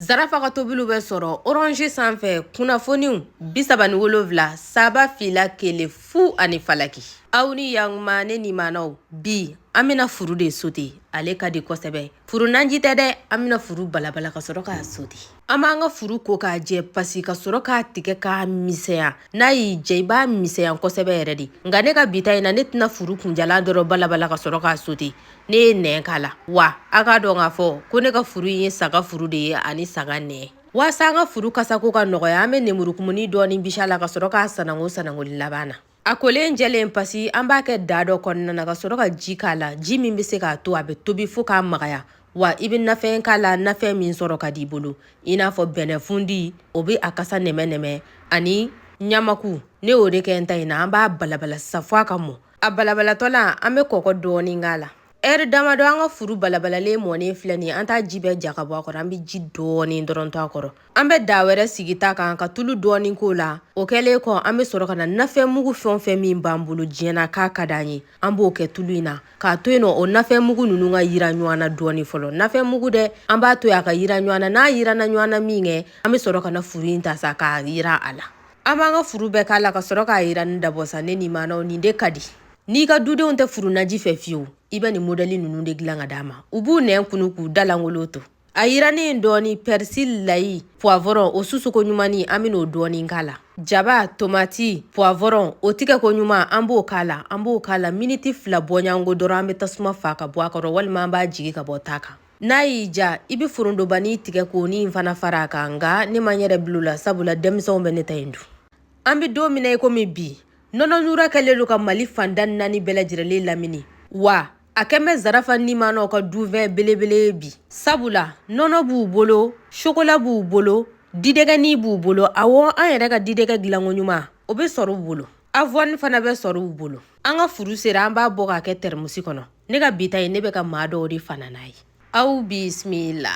Zarafa ka tobiliw bɛ sɔrɔ orange sanfɛ kunnafoniw bi saba ni wolonwula saba fila kelen fu ani falaki aw ni yankuma ne nimanaw bi an bɛna furu de sote ale ka di kosɛbɛ furu nanji tɛ dɛ an bɛna furu balabala ka sɔrɔ k'a sote an b'an ka furu ko k'a jɛ pasi ka sɔrɔ k'a tigɛ k'a misɛya n'a y'i jɛ i b'a misɛya kosɛbɛ yɛrɛ de nka ne ka bi ta in na ne tɛna furu kunjalan dɔrɔn balabala ka sɔrɔ k'a sote ne ye nɛn k'a la wa a k'a dɔn k'a fɔ ko ne ka furu ye saga furu de ye ani saga nɛn waasa an ka furu kasako ka nɔgɔya an bɛ nemurukumuni dɔɔni bisi a la ka sɔrɔ k'a sanango sanangoli laban na a kolen jɛlen pasi an b'a kɛ daa dɔ kɔnɔna na ka sɔrɔ ka ji k'a la ji min bɛ se k'a to a bɛ tobi fo k'a magaya wa i bɛ nafɛn k'a la nafɛn min sɔrɔ ka d'i bolo i n'a fɔ bɛnɛfundi o bɛ a kasa nɛmɛ nɛmɛ ani ɲamaku ne y'o de kɛ n ta in na an b'a balabala sisan fo a ka mɔ a balabalatɔ la an bɛ kɔgɔ dɔɔnin k'a la ɛri damadɔ an ka furu balabalalen mɔnen filɛ nin an t'a ji bɛɛ ja ka bɔ a kɔrɔ an bɛ ji dɔɔnin dɔrɔn to a kɔrɔ an bɛ daa wɛrɛ sigi ta kan ka tulu dɔɔnin k'o la o kɛlen kɔ an bɛ sɔrɔ ka na nafɛn mugu fɛn fɛn min b'an bolo diɲɛ na k'a ka d'an ye an b'o kɛ tulu in na k'a to yen nɔ o nafɛn mugu ninnu ka yiran ɲɔgɔn na dɔɔnin fɔlɔ nafɛn mugu dɛ an b'a to yen a ka yiran ɲɔgɔn na n'a yiranna ɲɔgɔn na minkɛ an bɛ sɔrɔ ka na furu in ta sa k'a yiran a la An b'an ka furu bɛɛ k'a la ka sɔrɔ k'a yiranni dabɔ sa ne nimanaw nin de ka di n'i ka dudenw tɛ furu naji fɛ fiyewu i bɛ nin modɛli ninnu de dilan ka d'a ma u b'u nɛn kunu k'u da lankolon to a yirannen in dɔɔni pɛrisili layi puwavɔrɔn o susuko ɲumanni an bɛna o dɔɔni k'a la jaba tomati puwavɔrɔn o tigɛko ɲuman an b'o k'a la an b'o k'a la miniti fila bɔɲɔgɔnko dɔrɔn an bɛ tasuma faa ka bɔ a kɔrɔ walima an b'a jigi ka bɔ ta kan n'a y'i ja i bɛ forontobanin tigɛ k'o nin fana fara a kan nka ne ma n yɛrɛ bil'o la sabula denmisɛnw bɛ ne ta in dun an bɛ don min na i komi bi nɔnɔ Nura kɛlen don ka mali fanda naani bɛɛ lajɛrɛlen lamini wa a kɛlen bɛ zarafa nimanaw ka dunfɛn belebele ye bi sabula nɔnɔ b'u bolo sokola b'u bolo didɛgɛni b'u bolo awɔ an yɛrɛ ka didɛgɛ dilanko ɲuman o bɛ sɔrɔ u bolo avɔni fana bɛ sɔrɔ u bolo an ka furu sera an b'a bɔ k'a kɛ tɛrɛmusi kɔnɔ ne ka bi ta in ne bɛ ka maa dɔw de fana n'a ye aw bisimila